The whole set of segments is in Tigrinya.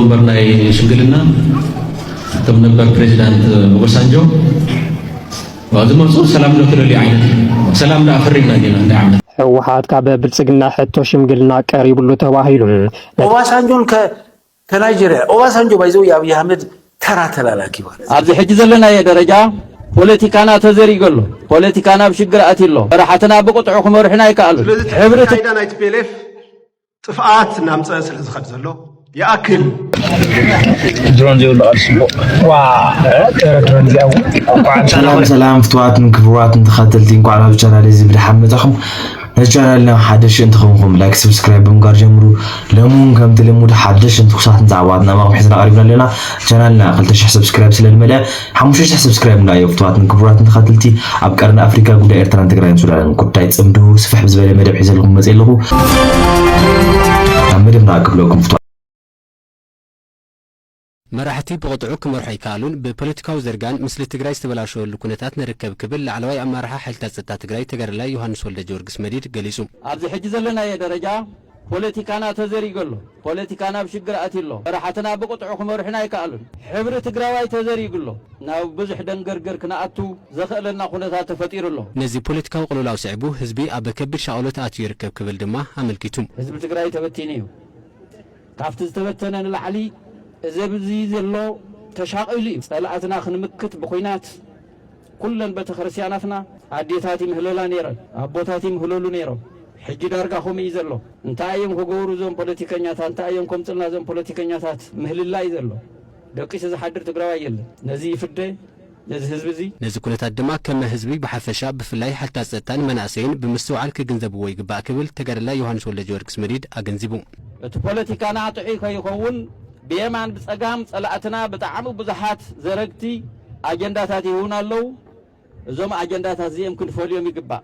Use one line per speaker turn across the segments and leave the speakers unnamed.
ወንበር ናይ ሽምግልና ከም ነበር ፕሬዚዳንት ኦባሳንጆ ዝመፁ ሰላም ዶ ትደልዩ ዓይነት ሰላም ዶ ኣፈሪምና ጌና እንታይ ዓይነት ህወሓት ካብ
ብልፅግና ሕቶ ሽምግልና ቀሪብሉ ተባሂሉ ኦባሳንጆን
ከናይጀርያ ኦባሳንጆ ባይዘው የኣብዪ ኣህመድ ተራ ተላላኪ ማለት ኣብዚ ሕጂ ዘለናዮ
ደረጃ ፖለቲካና ተዘሪገ ኣሎ ፖለቲካና ኣብ ሽግር ኣትዩ ኣሎ መራሕትና ብቕጥዑ ክመርሑና ኣይከኣሉን ሕብሪ ናይቲ ፒኤልኤፍ
ጥፍኣት እናምፀ
ስለ ዝኸድ ዘሎ ይኣክል ድሮን ዘይብሉ ቃል ፅቡቅ ዋ ጥረ ድሮን እዚኣ ሰላም ሰላም
ፍትዋትን ክብዋትን ተኸተልቲ እንኳዕ ናብ ቻናል እዚ ብድሓን መጻኹም ነዚ ቻናልና ሓደሽ እንትኸንኩም ላይክ ሰብስክራይብ ብምግባር ጀምሩ ሎሚ እውን ከምቲ ልሙድ ሓደሽን ትኩሳትን ዛዕባታት ናባኹም ሒዝና ቀሪብና ኣለና ቻናልና 200 ሰብስክራይብ ስለ ዝመልአ ሓሙሽተ ሽሕ ሰብስክራይብ ንርኣዮ ፍትዋትን ክቡራትን ተካትልቲ ኣብ ቀርኒ ኣፍሪካ ጉዳይ ኤርትራን ትግራይን ሱዳንን ጉዳይ ጽምዱ ስፍሕ ብዝበለ መደብ ሒዘልኩም መጽ ኣለኹ ናብ መደብ ንኣ ክብለኩም ፍትዋ
መራሕቲ ብቕጥዑ ክመርሑ ኣይከኣሉን፣ ብፖለቲካዊ ዝርጋን ምስሊ ትግራይ ዝተበላሸወሉ ኩነታት ንርከብ ክብል ላዕለዋይ ኣመራርሓ ሓይልታት ጸጥታ ትግራይ ተጋዳላይ ዮሃንስ ወልደጀወርግስ መዲድ ገሊጹ። ኣብዚ ሕጂ ዘለናዮ
ደረጃ ፖለቲካና ተዘሪጉ ኣሎ። ፖለቲካና ኣብ ሽግር ኣትዩ ኣሎ። መራሕትና ብቕጥዑ ክመርሑና ኣይከኣሉን። ሕብሪ ትግራዋይ ተዘሪጉ ኣሎ። ናብ ብዙሕ ደንገርገር ክንኣቱ ዘኸእለና ኩነታት ተፈጢሩ ኣሎ። ነዚ ፖለቲካዊ
ቅልውላው ስዒቡ ህዝቢ ኣብ ከቢድ ሻቕሎት ኣትዩ ይርከብ ክብል ድማ ኣመልኪቱ። ህዝቢ ትግራይ
ተበቲኑ እዩ። ካብቲ ዝተበተነ ንላዕሊ እዚ ኣብዚ ዘሎ ተሻቒሉ እዩ። ፀላእትና ክንምክት ብኹናት፣ ኩለን በተክርስትያናትና ኣዴታት ይምህለላ ነይረን ኣቦታት ይምህለሉ ነይሮም ሕጂ ዳርጋ ከምኡ እዩ ዘሎ እንታይ እዮም ክገብሩ እዞም ፖለቲከኛታት እንታይ እዮም ከምፅልና እዞም ፖለቲከኛታት ምህልላ እዩ ዘሎ ደቂሱ ዝሓድር ትግራዋይ የለን ነዚ ይፍደ ነዚ ህዝቢ እዚ ነዚ ኩነታት ድማ
ከመ ህዝቢ ብሓፈሻ ብፍላይ ሓልታት ፀጥታን መናእሰይን ብምስትውዓል ክግንዘብዎ ይግባእ ክብል ተጋዳላይ ዮሃንስ ወልደጀወርግስ መዲድ ኣገንዚቡ። እቲ ፖለቲካና
ጥዑይ ከይኸውን ብየማን ብፀጋም ፀላእትና ብጣዕሚ ብዙሓት ዘረግቲ፣ ኣጀንዳታት ይህቡና ኣለዉ። እዞም ኣጀንዳታት እዚኦም ክንፈልዮም ይግባእ፣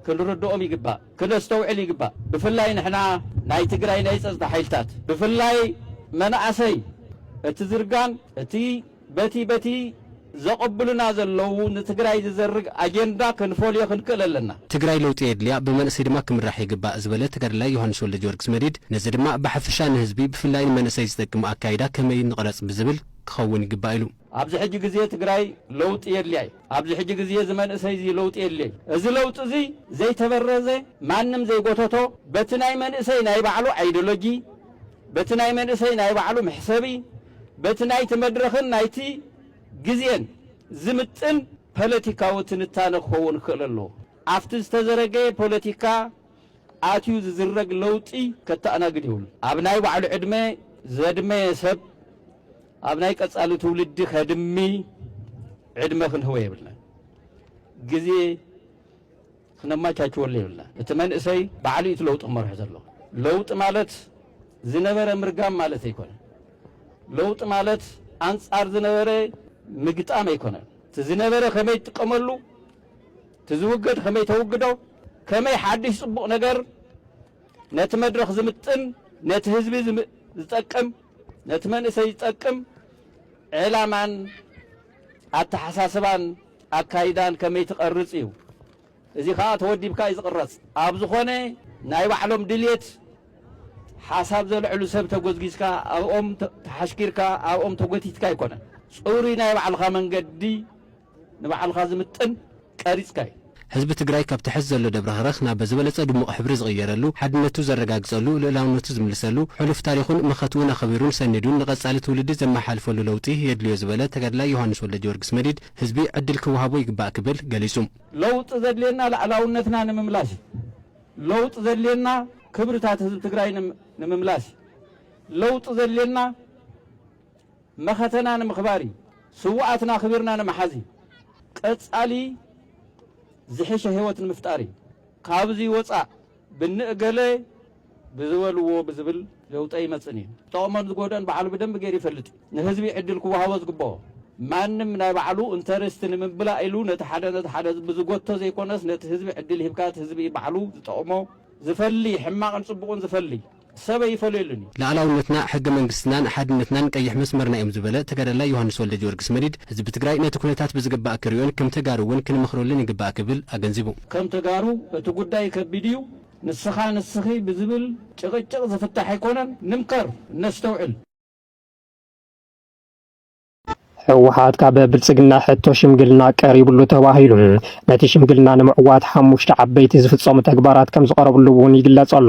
ክንርድኦም ይግባእ፣ ክነስተውዕል ይግባእ። ብፍላይ ንሕና ናይ ትግራይ ናይ ፀፅታ ሓይልታት ብፍላይ መናእሰይ እቲ ዝርጋን እቲ በቲ በቲ ዘቐብሉና ዘለዉ ንትግራይ ዝዘርግ ኣጀንዳ ክንፈልዮ ክንክእል ኣለና። ትግራይ ለውጢ የድልያ፣
ብመንእሰይ ድማ ክምራሕ ይግባእ ዝበለ ተጋዳላይ ዮሃንስ ወልደጊዮርግስ መዲድ፣ ነዚ ድማ ብሓፈሻ ንህዝቢ ብፍላይ ንመንእሰይ ዝጠቅም ኣካይዳ ከመይ ንቕረፅ ብዝብል ክኸውን ይግባእ ኢሉ። ኣብዚ ሕጂ ግዜ
ትግራይ ለውጢ የድልያ እዩ። ኣብዚ ሕጂ ግዜ እዚ መንእሰይ እዚ ለውጢ የድልዮ እዩ። እዚ ለውጢ እዚ ዘይተበረዘ ማንም ዘይጎተቶ በቲ ናይ መንእሰይ ናይ ባዕሉ ኣይዶሎጂ፣ በቲ ናይ መንእሰይ ናይ ባዕሉ መሕሰቢ፣ በቲ ናይቲ መድረኽን ናይቲ ግዜን ዝምጥን ፓለቲካዊ ትንታነ ክኸውን ክኽእል ኣለዎ። ኣብቲ ዝተዘረገየ ፓለቲካ ኣትዩ ዝዝረግ ለውጢ ከተኣናግድ የብሉን። ኣብ ናይ ባዕሉ ዕድመ ዘድመየ ሰብ ኣብ ናይ ቀፃሊ ትውልዲ ከድሚ ዕድመ ክንህቦ የብልናን። ግዜ ክነማቻችወሉ የብልናን። እቲ መንእሰይ ባዕሉ እዩ እቲ ለውጢ ክመርሖ ዘለዎ። ለውጢ ማለት ዝነበረ ምርጋም ማለት ኣይኮነን። ለውጢ ማለት ኣንፃር ዝነበረ ምግጣም ኣይኮነን። እቲ ዝነበረ ከመይ ትጥቀመሉ፣ እቲ ዝውገድ ከመይ ተውግዶ፣ ከመይ ሓዱሽ ፅቡቕ ነገር ነቲ መድረኽ ዝምጥን ነቲ ህዝቢ ዝጠቅም ነቲ መንእሰይ ዝጠቅም ዕላማን ኣተሓሳስባን ኣካይዳን ከመይ ትቐርጽ እዩ። እዚ ከኣ ተወዲብካ እዩ ዝቕረጽ። ኣብ ዝኾነ ናይ ባዕሎም ድልየት ሓሳብ ዘልዕሉ ሰብ ተጎዝጊዝካ ኣብኦም ተሓሽኪርካ ኣብኦም ተጎቲትካ ኣይኮነን። ጽሩይ ናይ ባዕልኻ መንገዲ ንባዕልኻ ዝምጥን ቀሪፅካ እዩ። ህዝቢ ትግራይ
ካብቲ ሐዚ ዘሎ ደብረኽረኽ ናብ ዝበለፀ ድሙቕ ሕብሪ ዝቕየረሉ፣ ሓድነቱ ዘረጋግፀሉ፣ ልኡላውነቱ ዝምልሰሉ፣ ሕሉፍ ታሪኹን መኸትኡን ኣኸቢሩን ሰኒዱን ንቐፃሊ ትውልዲ ዘመሓላልፈሉ ለውጢ የድልዮ ዝበለ ተጋዳላይ ዮሃንስ ወልደጀወርግስ መዲድ ህዝቢ ዕድል ክወሃቦ ይግባእ ክብል ገሊፁ። ለውጢ ዘድልየና
ልኣላውነትና ንምምላሽ እዩ። ለውጢ ዘድልየና ክብርታት ህዝቢ ትግራይ ንምምላሽ እዩ። ለውጢ ዘድልየና። መኸተና ንምኽባር እዩ። ስውኣትና ኣኽቢርና ንምሓዝ እዩ። ቀፃሊ ዝሕሸ ህይወት ንምፍጣር እዩ። ካብዙይ ወፃእ ብንእገለ ብዝበልዎ ብዝብል ለውጢ ኣይመፅእን እዩ። ዝጠቕሞን ዝጎድኦን ባዕሉ ብደንቢ ገይሩ ይፈልጥ እዩ። ንህዝቢ ዕድል ክወሃቦ ዝግበኦ። ማንም ናይ ባዕሉ እንተርስቲ ንምምላእ ኢሉ ነቲ ሓደ ነቲ ሓደ ብዝጎቶ ዘይኮነስ ነቲ ህዝቢ ዕድል ሂብካ እቲ ህዝቢ እዩ ባዕሉ ዝጠቕሞ ዝፈሊ ሕማቕን ፅቡቕን ዝፈሊ። ሰብ ኣይፈለየሉን እዩ። ልኣላውነትና፣ ሕገ
መንግስትናን ሓድነትናን ቀይሕ መስመርና እዮም ዝበለ ተጋዳላይ ዮሃንስ ወልደጊዮርግስ መዲድ፣ ህዝቢ ትግራይ ነቲ ኩነታት ብዝግባእ ክሪኦን ከም ተጋሩ እውን ክንመኽረሉን ይግባእ ክብል ኣገንዚቡ። ከም ተጋሩ
እቲ ጉዳይ ከቢድ እዩ፣ ንስኻ ንስኺ ብዝብል ጭቕጭቕ ዝፍታሕ ኣይኮነን፣ ንምከር፣ ነስተውዕል።
ህወሓት ካብ ብልፅግና ሕቶ ሽምግልና ቀሪብሉ ተባሂሉ ነቲ ሽምግልና ንምዕዋት ሓሙሽተ ዓበይቲ ዝፍፀሙ ተግባራት ከም ዝቐረብሉ እውን ይግለፅ ኣሎ።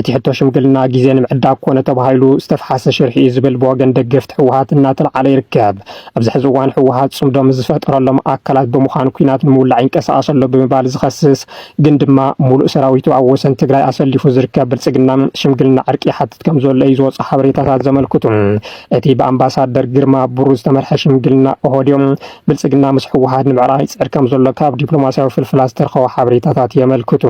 እቲ ሕቶ ሽምግልና ግዜ ንምዕዳግ ኮነ ተባሂሉ ዝተፍሓሰ ሽርሒ እዩ ዝብል ብወገን ደገፍቲ ህወሓት እናተልዓለ ይርከብ። ኣብዚ ሕዚ እዋን ህወሓት ፅምዶ ምስ ዝፈጠረሎም ኣካላት ብምዃን ኲናት ንምውላዕ ይንቀሳቐስ ኣሎ ብምባል ዝኸስስ ግን ድማ ሙሉእ ሰራዊቱ ኣብ ወሰን ትግራይ ኣሰሊፉ ዝርከብ ብልፅግና ሽምግልና ዕርቂ ይሓትት ከም ዘሎ እዩ ዝወፁ ሓበሬታታት ዘመልክቱ። እቲ ብኣምባሳደር ግርማ ብሩ ዝተመርሐ ሽምግልና ኦሆድዮ ብልፅግና ምስ ህወሓት ንምዕራቕ ይፅዕር ከም ዘሎ ካብ ዲፕሎማስያዊ ፍልፍላት ዝተረኸቡ ሓበሬታታት የመልክቱ።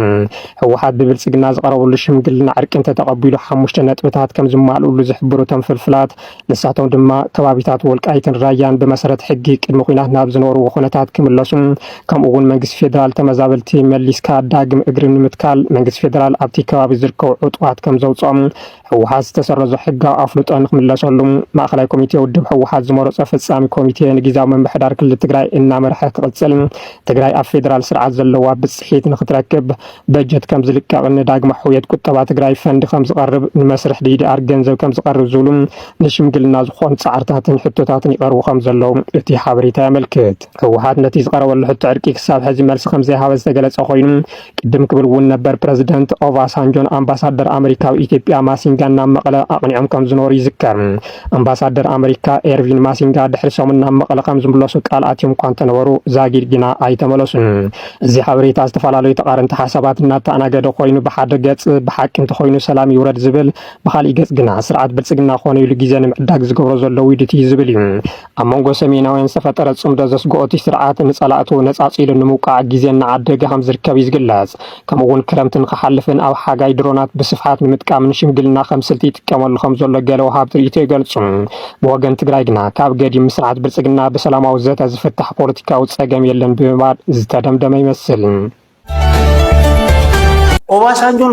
ህወሓት ብብልፅግና ዝቐረበሉ ሽምግልና ዕርቂ እንተተቐቢሉ ሓሙሽተ ነጥብታት ከም ዝማልኡሉ ዝሕብሩ እቶም ፍልፍላት ንሳቶም ድማ ከባቢታት ወልቃይትን ራያን ብመሰረት ሕጊ ቅድሚ ኩናት ናብ ዝነበርዎ ኩነታት ክምለሱ ከምኡ እውን መንግስቲ ፌዴራል ተመዛበልቲ መሊስካ ዳግም እግሪ ንምትካል መንግስቲ ፌዴራል ኣብቲ ከባቢ ዝርከቡ ዕጡቓት ከም ዘውፅኦም ህወሓት ዝተሰረዞ ሕጋዊ ኣፍልጦ ንክምለሰሉ ማእኸላይ ኮሚቴ ውድብ ህወሓት ዝመረፆ ፈፃሚ ኮሚቴ ንጊዚያዊ ምምሕዳር ክልል ትግራይ እናመርሐ ክቕፅል፣ ትግራይ ኣብ ፌዴራል ስርዓት ዘለዋ ብፅሒት ንክትረክብ በጀት ከምዝልቀቕ፣ ንዳግመ ሕውየት ቁጠባ ትግራይ ፈንድ ከምዝቐርብ፣ ንመስርሕ ዲዲኣር ገንዘብ ከምዝቐርብ ዝብሉ ንሽምግልና ዝኾኑ ፃዕርታትን ሕቶታትን ይቐርቡ ከምዘለዉ እቲ ሓበሬታ የመልክት። ህወሓት ነቲ ዝቐረበሉ ሕቶ ዕርቂ ክሳብ ሕዚ መልሲ ከምዘይሃበ ዝተገለፀ ኮይኑ ቅድም ክብል እውን ነበር ፕረዚደንት ኦቫሳንጆን ኣምባሳደር ኣመሪካ ኣብ ኢትዮጵያ ማሲንጋን ናብ መቐለ ኣቕኒዖም ከም ዝነበሩ ይዝከር። ኣምባሳደር ኣመሪካ ኤርቪን ማሲንጋ ድሕሪ ሰሙን ናብ መቐለ ከም ዝምለሱ ቃል ኣትዮም እኳ እንተነበሩ ዛጊድ ግና ኣይተመለሱን። እዚ ሓበሬታ ዝተፈላለዩ ተቓረንቲ ሓሳባት እናተኣናገደ ኮይኑ ብሓደ ገፅ ብሓቂ እንተኾይኑ ሰላም ይውረድ ዝብል፣ ብኻሊእ ገፅ ግና ስርዓት ብልፅግና ኮነ ኢሉ ግዜ ንምዕዳግ ዝገብሮ ዘሎ ውዲት እዩ ዝብል እዩ። ኣብ መንጎ ሰሜናውያን ዝተፈጠረ ጽምዶ ዘስግኦ እቲ ስርዓት ንጸላእቱ ነጻጺሉ ንምውቃዕ ግዜ እናዓደገ ከም ዝርከብ እዩ ዝግለጽ። ከምኡ'ውን ክረምቲ ንኽሓልፍን ኣብ ሓጋይ ድሮናት ብስፍሓት ንምጥቃምን ሽምግልና ከም ስልቲ ይጥቀመሉ ከም ዘሎ ገለ ወሃብቲ ርእይቶ ይገልጹ። ብወገን ትግራይ ግና ካብ ገዲም ስርዓት ብልጽግና ብሰላማዊ ዘተ ዝፍታሕ ፖለቲካዊ ጸገም የለን ብምባል ዝተደምደመ ይመስል።
ኦባሳንጆን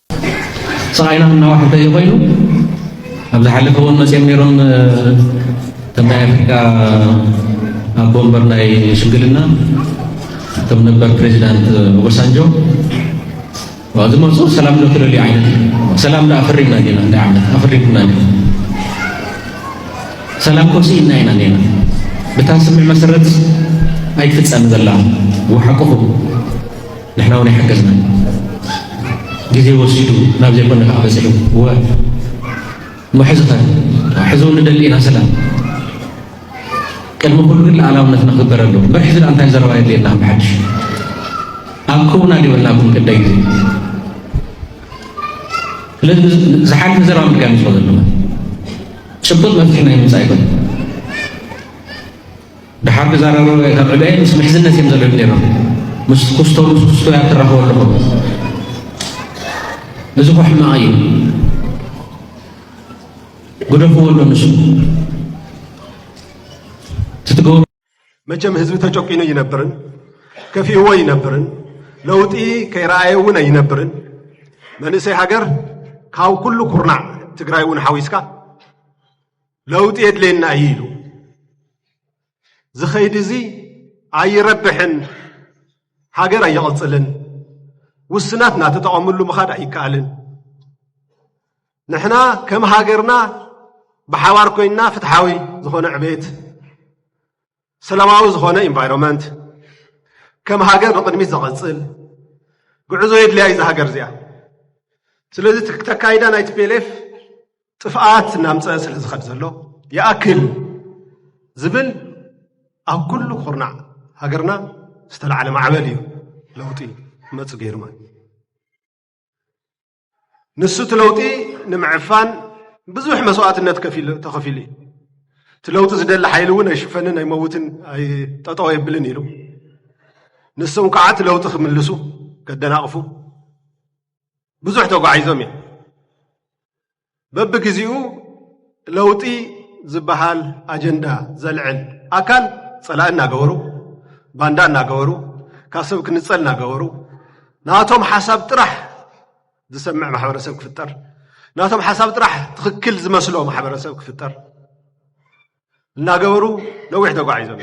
ስቓይና እናወሓደ እዩ ኮይኑ ኣብ ዝሓለፈ እውን መፅኦም ነይሮም ከም ናይ ኣፍሪካ ኣቦ ወንበር ናይ ሽምግልና እቶም ነበር ፕሬዚዳንት ኦባሳንጆ ዝመፁ ሰላም ዶ ትደልዩ ዓይነት ሰላም ዶ ኣፍሪምና ዲና እንዳ ዓመት ኣፍሪምና ዲና ሰላም ኮሲ ኢና ኢና ኔና ብታ ስምዕ መሰረት ኣይትፍፀም ዘላ ወሓቁኹም ንሕና ውን ኣይሕገዝናን ግዜ ወሲዱ ናብ ዘይኮነ ከኣ በጺሑ እወ እሞ ሕዚ ከ ሕዚ ውን ንደሊ ኢና ሰላም ቅድሚ ኩሉ ግን ልኣላውነትና ክግበር ኣለዎ እምበር ሕዚ ደኣ እንታይ ዘረባ የድልየና ከም ብሓድሽ ኣብኩምና ዲበልናኩም ክንደይ ግዜ ስለዚ ዝሓልፈ ዘረባ ምድጋም ይጽኦ ዘለኹ ጭቡጥ መፍትሒ ናይ ምምጻእ ኣይኮነን ደሓር ክዛረቡ ካብ ዕበየ ምስ ምሕዝነት እዮም ዘለዉ ነይሮም ምስ ኩስቶ ምስ ኩስቶ እያ ትራኸቡ ኣለኹ እዚ ኮ ሕማቕ እዩ ግደፍዎ ኣሎ ንሱ ትትገቡ መቸም
ህዝቢ ተጨቂኑ ይነብርን ከፊእዎ ይነብርን ለውጢ ከይረኣየ እውን ኣይነብርን መንእሰይ ሃገር ካብ ኩሉ ኩርናዕ ትግራይ እውን ሓዊስካ ለውጢ የድልየና እዩ ኢሉ ዝኸይድ እዚ ኣይረብሕን፣ ሃገር ኣየቕፅልን፣ ውስናት እናተጠቐምሉ ምኻድ ኣይከኣልን። ንሕና ከም ሃገርና ብሓባር ኮይንና ፍትሓዊ ዝኾነ ዕቤት ሰላማዊ ዝኾነ ኢንቫይሮመንት ከም ሃገር ንቕድሚት ዘቐፅል ጉዕዞ የድልያ እዩ ሃገር እዚኣ ስለዚ ተካይዳ ናይ ቲፒኤልኤፍ ጥፍኣት እናምፀ ስለ ዝኸድ ዘሎ ይኣክል ዝብል ኣብ ኩሉ ኩርናዕ ሃገርና ዝተላዕለ ማዕበል እዩ ለውጢ መፁ ገይሩ ማለት ንሱ እቲ ለውጢ ንምዕፋን ብዙሕ መስዋእትነት ተኸፊሉ እዩ። እቲ ለውጢ ዝደሊ ሓይሊ እውን ኣይሽፈንን ኣይመውትን ጠጠው ኣይብልን ኢሉ ንሶም ከዓ እቲ ለውጢ ክምልሱ ከደናቕፉ ብዙሕ ተጓዒዞም እዮም። በብግዜኡ ለውጢ ዝበሃል ኣጀንዳ ዘልዕል ኣካል ጸላኢ እናገበሩ ባንዳ እናገበሩ ካብ ሰብ ክንጸል እናገበሩ ናቶም ሓሳብ ጥራሕ ዝሰምዕ ማሕበረሰብ ክፍጠር ናቶም ሓሳብ ጥራሕ ትኽክል ዝመስሎ ማሕበረሰብ ክፍጠር እናገበሩ ነዊሕ ተጓዒዞም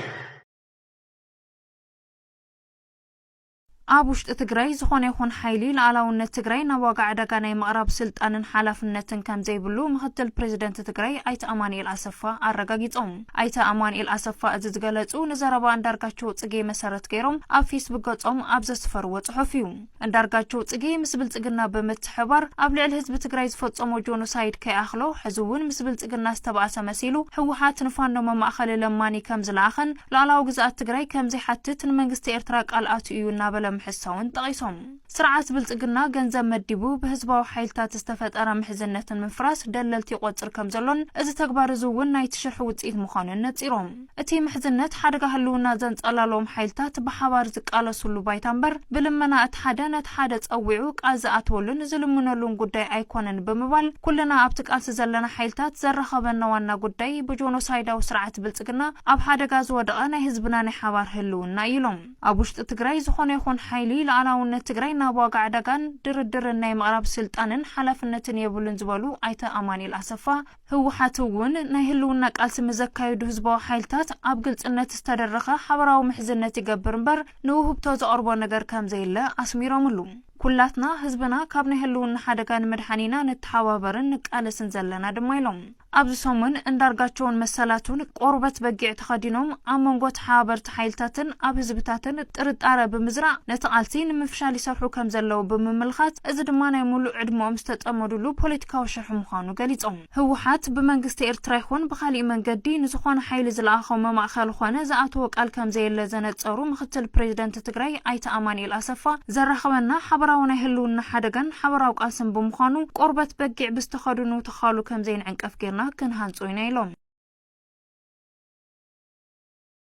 ኣብ ውሽጢ ትግራይ ዝኾነ ይኹን ሓይሊ ልኣላውነት ትግራይ ናብ ዋጋ ዕዳጋ ናይ ምቕራብ ስልጣንን ሓላፍነትን ከምዘይብሉ ምኽትል ፕሬዚደንት ትግራይ ኣይተ ኣማኒኤል ኣሰፋ ኣረጋጊፆም። ኣይተ ኣማኒኤል ኣሰፋ እዚ ዝገለፁ ንዘረባ ኣንዳርጋቸው ፅጌ መሰረት ገይሮም ኣብ ፌስቡክ ገፆም ኣብ ዘስፈርዎ ፅሑፍ እዩ። እንዳርጋቸው ፅጌ ምስ ብልፅግና ብምት ብምትሕብባር ኣብ ልዕሊ ህዝቢ ትግራይ ዝፈፀሞ ጆኖሳይድ ከይኣኽሎ ሕዚ እውን ምስ ብልፅግና ዝተባእሰ መሲሉ ህወሓት ንፋኖ መማእኸሊ ለማኒ ከምዝለኣኸን ሉኣላዊ ግዝኣት ትግራይ ከምዘይሓትት ንመንግስቲ ኤርትራ ቃል ኣትዩ እዩ እናበለ ምሕሳውን ጠቒሶም። ስርዓት ብልፅግና ገንዘብ መዲቡ ብህዝባዊ ሓይልታት ዝተፈጠረ ምሕዝነት ንምፍራስ ደለልቲ ይቖፅር ከምዘሎን እዚ ተግባር እዚ እውን ናይቲ ሽርሒ ውፅኢት ምዃኑን ነፂሮም። እቲ ምሕዝነት ሓደጋ ህልውና ዘንጸላልዎም ሓይልታት ብሓባር ዝቃለሱሉ ባይታ እምበር ብልመና እቲ ሓደ ነቲ ሓደ ጸዊዑ ቃል ዝኣትወሉን ዝልምነሉን ጉዳይ ኣይኮነን ብምባል ኩልና ኣብቲ ቃልሲ ዘለና ሓይልታት ዘራኸበና ዋና ጉዳይ ብጆኖሳይዳዊ ስርዓት ብልጽግና ኣብ ሓደጋ ዝወደቐ ናይ ህዝብና ናይ ሓባር ህልውና እዩ ኢሎም። ኣብ ውሽጢ ትግራይ ዝኾነ ይኹን ሓይሊ ልኣላውነት ትግራይ ናብ ዋጋ ዕዳጋን ድርድርን ናይ ምቕራብ ስልጣንን ሓላፍነትን የብሉን ዝበሉ ኣይተ ኣማኒኤል ኣሰፋ፣ ህወሓት እውን ናይ ህልውና ቃልሲ ንዘካይዱ ህዝባዊ ሓይልታት ኣብ ግልፅነት ዝተደረኸ ሓበራዊ ምሕዝነት ይገብር እምበር ንውህብቶ ዘቕርቦ ነገር ከምዘየለ ኣስሚሮምሉ። ኩላትና ህዝብና ካብ ናይ ህልውና ሓደጋ ንምድሓን ኢና ንተሓባበርን ንቃለስን ዘለና ድማ ኢሎም። ኣብዚ ሰሙን እንዳርጋቸውን መሰላቱን ቆርበት በጊዕ ተኸዲኖም ኣብ መንጎ ተሓባበርቲ ጸጥታ ሓይልታትን ኣብ ህዝብታትን ጥርጣረ ብምዝራእ ነቲ ቃልሲ ንምፍሻል ይሰርሑ ከም ዘለዉ ብምምልኻት እዚ ድማ ናይ ሙሉእ ዕድመኦም ዝተጸመዱሉ ፖለቲካዊ ሽርሒ ምዃኑ ገሊጾም። ህወሓት ብመንግስቲ ኤርትራ ይኹን ብኻሊእ መንገዲ ንዝኾነ ሓይሊ ዝለኣኾ መማእኸሊ ኾነ ዝኣተዎ ቃል ከም ዘየለ ዘነጸሩ ምክትል ፕሬዚደንት ትግራይ ኣይተ ኣማኒኤል ኣሰፋ ዘራኽበና ሓበራዊ ናይ ህልውና ሓደጋን ሓበራዊ ቃልስን ብምዃኑ ቆርበት በጊዕ ብዝተኸድኑ ተዃሉ ከም ዘይንዕንቀፍ ገይርና ክንሃንጾ ኢና ኢሎም።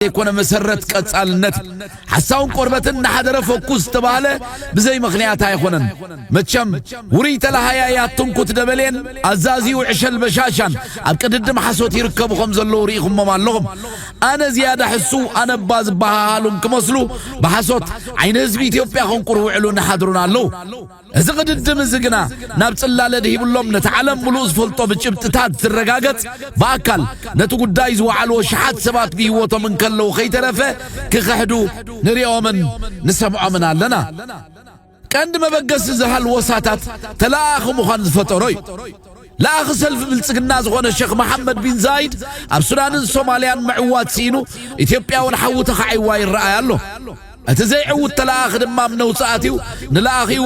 ዘይኮነ
መሰረት ቀጻልነት ሓሳውን ቆርበትን እናሓደረ ፈኩስ ዝተባህለ ብዘይ ምኽንያት ኣይኾነን። መቸም ውሩይ ተለሃያይ ኣትንኩት ደበሌን ኣዛዚኡ ዕሸል በሻሻን ኣብ ቅድድም ሓሶት ይርከቡ ከም ዘለዉ ርኢኹሞም ኣለኹም። ኣነ ዝያዳ ሕሱ ኣነባ ዝበሃሃሉን ክመስሉ ብሓሶት ዓይኒ ህዝቢ ኢትዮጵያ ከንቁር ውዕሉን ሓድሩን ኣለዉ። እዚ ቅድድም እዚ ግና ናብ ጽላለ ድሂብሎም ነቲ ዓለም ምሉእ ዝፈልጦ ብጭብጥታት ዝረጋገጽ ብኣካል ነቲ ጉዳይ ዝወዓልዎ ሽሓት ሰባት ብህይወቶም እንከለዉ ከይተረፈ ክኽሕዱ ንሪኦምን ንሰምዖምን ኣለና። ቀንዲ መበገሲ እዚ ሃልወሳታት ተለኣኣኺ ምዃን ዝፈጠሮ እዩ። ለኣኺ ሰልፊ ብልጽግና ዝኾነ ሸኽ መሓመድ ቢን ዛይድ ኣብ ሱዳንን ሶማልያን ምዕዋት ስኢኑ ኢትዮጵያውን ሓዊ ተኻዒዋ ይረኣይ ኣሎ። እቲ ዘይዕውት ተለኣኺ ድማ ኣብ ነውጺ ኣትዩ ንለኣኺኡ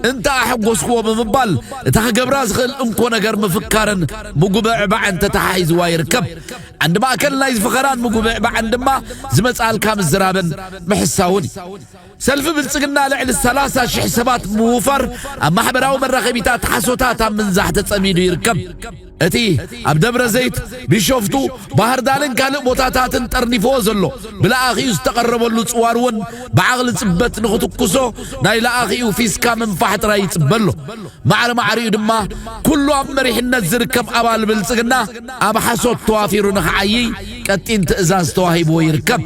እንተ ኣሐጎስክዎ ብምባል እታ ክገብራ ዝኽእል እንኮ ነገር ምፍካርን ምጉብዕባዕን ተተሓሒዝዋ ይርከብ። ዓንዲ ማእከል ናይዚ ፈኸራን ምጉብዕባዕን ድማ ዝመጽኣልካ ምዝራብን ምሕሳውን እዩ። ሰልፊ ብልጽግና ልዕሊ ሰላሳ ሽሕ ሰባት ብምውፋር ኣብ ማሕበራዊ መራኸቢታት ሓሶታት ኣብ ምንዛሕ ተጸሚዱ ይርከብ። እቲ ኣብ ደብረ ዘይት፣ ቢሾፍቱ፣ ባህርዳርን ካልእ ቦታታትን ጠርኒፍዎ ዘሎ ብለኣኺኡ ዝተቐረበሉ ጽዋር እውን ብዓቕሊ ጽበት ንኽትኩሶ ናይ ለኣኺኡ ፊስካ ምንፋሕ ጥራይ ይጽበ ኣሎ። ማዕረ ማዕሪኡ ድማ ኩሉ ኣብ መሪሕነት ዝርከብ ኣባል ብልጽግና ኣብ ሓሶት ተዋፊሩ ንኽዓይይ ቀጢን ትእዛዝ ተዋሂብዎ ይርከብ።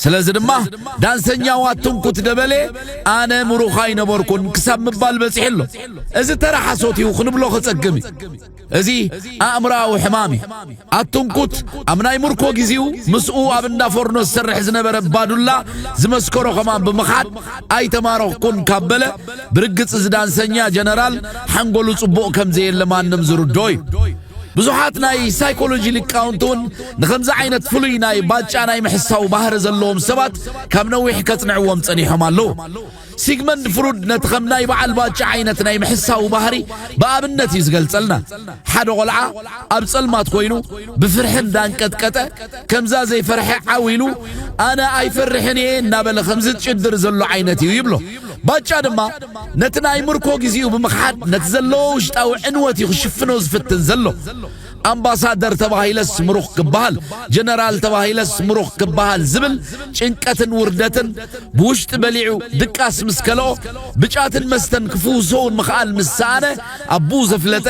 ስለዚ ድማ ዳንሰኛው ኣትንኩት ደበሌ ኣነ ምሩኽ ኣይነበርኩን ክሳብ ምባል በጺሑ ኣሎ እዚ ተራ ሓሶት እዩ ክንብሎ ከጸግም እዩ እዚ ኣእምራዊ ሕማም እዩ ኣትንኩት ኣብ ናይ ምርኮ ግዜኡ ምስኡ ኣብ እንዳ ፎርኖ ዝሰርሕ ዝነበረ ባዱላ ዝመስከሮ ከማን ብምኻድ ኣይተማረኽኩን ካብ በለ ብርግጽ እዚ ዳንሰኛ ጀነራል ሓንጎሉ ጽቡቕ ከም ዘየለ ማንም ዝርዶ እዩ ብዙሓት ናይ ሳይኮሎጂ ሊቃውንቲ እውን ንኸምዚ ዓይነት ፍሉይ ናይ ባጫ ናይ ምሕሳው ባህሪ ዘለዎም ሰባት ካብ ነዊሕ ከጽንዕዎም ጸኒሖም ኣለዉ። ሲግመንድ ፍሩድ ነቲ ከም ናይ በዓል ባጫ ዓይነት ናይ ምሕሳው ባህሪ ብኣብነት እዩ ዝገልጸልና። ሓደ ቆልዓ ኣብ ጸልማት ኮይኑ ብፍርሒ እንዳንቀጥቀጠ ከምዛ ዘይፈርሐ ዓው ኢሉ ኣነ ኣይፈርሕን እየ እናበለ ከም ዝጭድር ዘሎ ዓይነት እዩ ይብሎ። ባጫ ድማ ነቲ ናይ ምርኮ ግዜኡ ብምኽሓድ ነቲ ዘለዎ ውሽጣዊ ዕንወት እዩ ክሽፍኖ ዝፍትን ዘሎ። ኣምባሳደር ተባሂለስ ምሩኽ ክበሃል፣ ጀነራል ተባሂለስ ምሩኽ ክበሃል ዝብል ጭንቀትን ውርደትን ብውሽጢ በሊዑ ድቃስ ምስ ከልኦ ብጫትን መስተን ክፍውሶውን ምኽኣል ምስ ሰኣነ ኣቡኡ ዘፍለጠ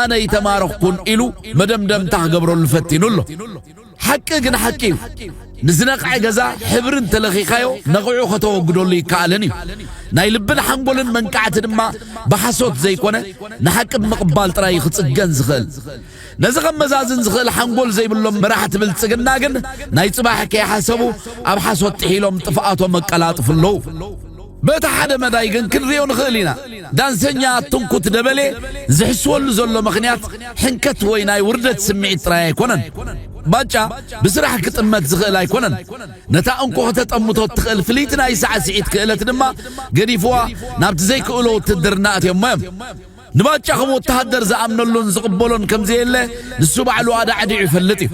ኣነ ይተማረኽኩን ኢሉ መደምደምታ ክገብረሉ ፈቲኑ ኣሎ። ሓቂ ግን ሓቂ እዩ። ንዝነቕዐ ገዛ ሕብሪ እንተለኺኻዮ ነቒዑ ከተወግደሉ ይከኣልን እዩ። ናይ ልብን ሓንጎልን መንቃዕቲ ድማ ብሓሶት ዘይኮነ ንሓቂ ብምቕባል ጥራይ እዩ ክጽገን ዝኽእል። ነዚ ከመዛዝን ዝኽእል ሓንጎል ዘይብሎም መራሕቲ ብልጽግና ግን ናይ ጽባሕ ከይሓሰቡ ኣብ ሓሶት ጥሒሎም ጥፍኣቶም ኣቀላጥፉ ኣለዉ። በቲ ሓደ መዳይ ግን ክንሪኦ ንኽእል ኢና፣ ዳንሰኛ ኣትንኩት ደበሌ ዝሕስወሉ ዘሎ ምኽንያት ሕንከት ወይ ናይ ውርደት ስምዒት ጥራይ ኣይኮነን። ባጫ ብስራሕ ክጥመት ዝኽእል ኣይኮነን። ነታ እንኮ ከተጠምቶ እትኽእል ፍልይቲ ናይ ሳዕስዒት ክእለት ድማ ገዲፍዋ ናብቲ ዘይክእሎ ውትድርና ኣትዮሞ እዮም። ንባጫ ከም ወተሃደር ዝኣምነሉን ዝቕበሎን ከምዘየለ ንሱ ባዕሉ ኣዳዕዲዑ ይፈልጥ እዩ።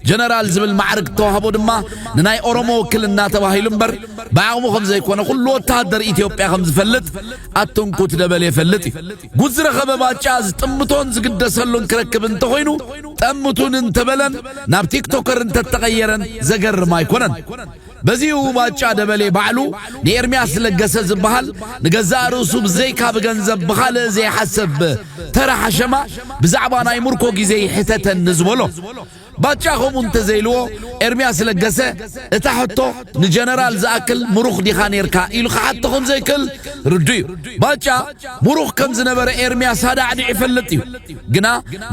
ጀነራል ዝብል ማዕርግ እተዋህቦ ድማ ንናይ ኦሮሞ ውክልና ተባሂሉ እምበር ብዓቕሙ ከም ዘይኮነ ኩሉ ወተሃደር ኢትዮጵያ ከም ዝፈልጥ ኣትንኩት ደበሌ ይፈልጥ እዩ። ጉድ ዝረኸበ ባጫ ዝጥምቶን ዝግደሰሉን ክረክብ እንተኾይኑ ጠምቱኒ እንተበለን ናብ ቲክቶከር እንተተቐየረን ዘገርም ኣይኮነን። በዚ'ዩ ባጫ ደበሌ ባዕሉ ንኤርሚያስ ለገሰ ዝበሃል ንገዛእ ርእሱ ብዘይካ ብገንዘብ ብኻልእ ዘይሓሰብ ተራ ሓሸማ ብዛዕባ ናይ ምርኮ ግዜ ይሕተተኒ ዝበሎ። ባጫ ከምኡ እንተዘይልዎ ኤርሚያስ ለገሰ እታ ሕቶ ንጀነራል ዝኣክል ምሩኽ ዲኻ ኔርካ ኢሉ ክሓቶ ከም ዘይክእል ርዱእ'ዩ። ባጫ ምሩኽ ከም ዝነበረ ኤርሚያስ ኣዳዕዲዑ ይፈልጥ እዩ። ግና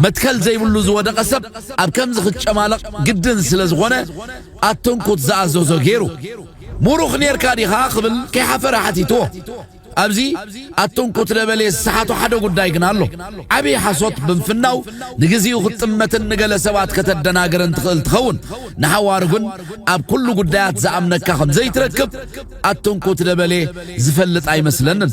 መትከል ዘይብሉ ዝወደቐ ሰብ ኣብ ከምዚ ክጨማለቕ ግድን ስለ ዝኾነ ኣትንኩት ዝኣዘዞ ገይሩ። ሙሩኽ ኔርካ ዲኻ ክብል ከይሓፈረ ሓቲትዎ። ኣብዚ ኣትንኩት ደበሌ ዝሰሓቶ ሓደ ጉዳይ ግና ኣሎ። ዓብይ ሓሶት ብምፍናው ንግዚኡ ክትጥመትን ንገለ ሰባት ከተደናግርን ትኽእል ትኸውን። ንሓዋሩ ግን ኣብ ኩሉ ጉዳያት ዝኣምነካ ከምዘይትረክብ ኣትንኩት ደበሌ ዝፈልጥ ኣይመስለንን።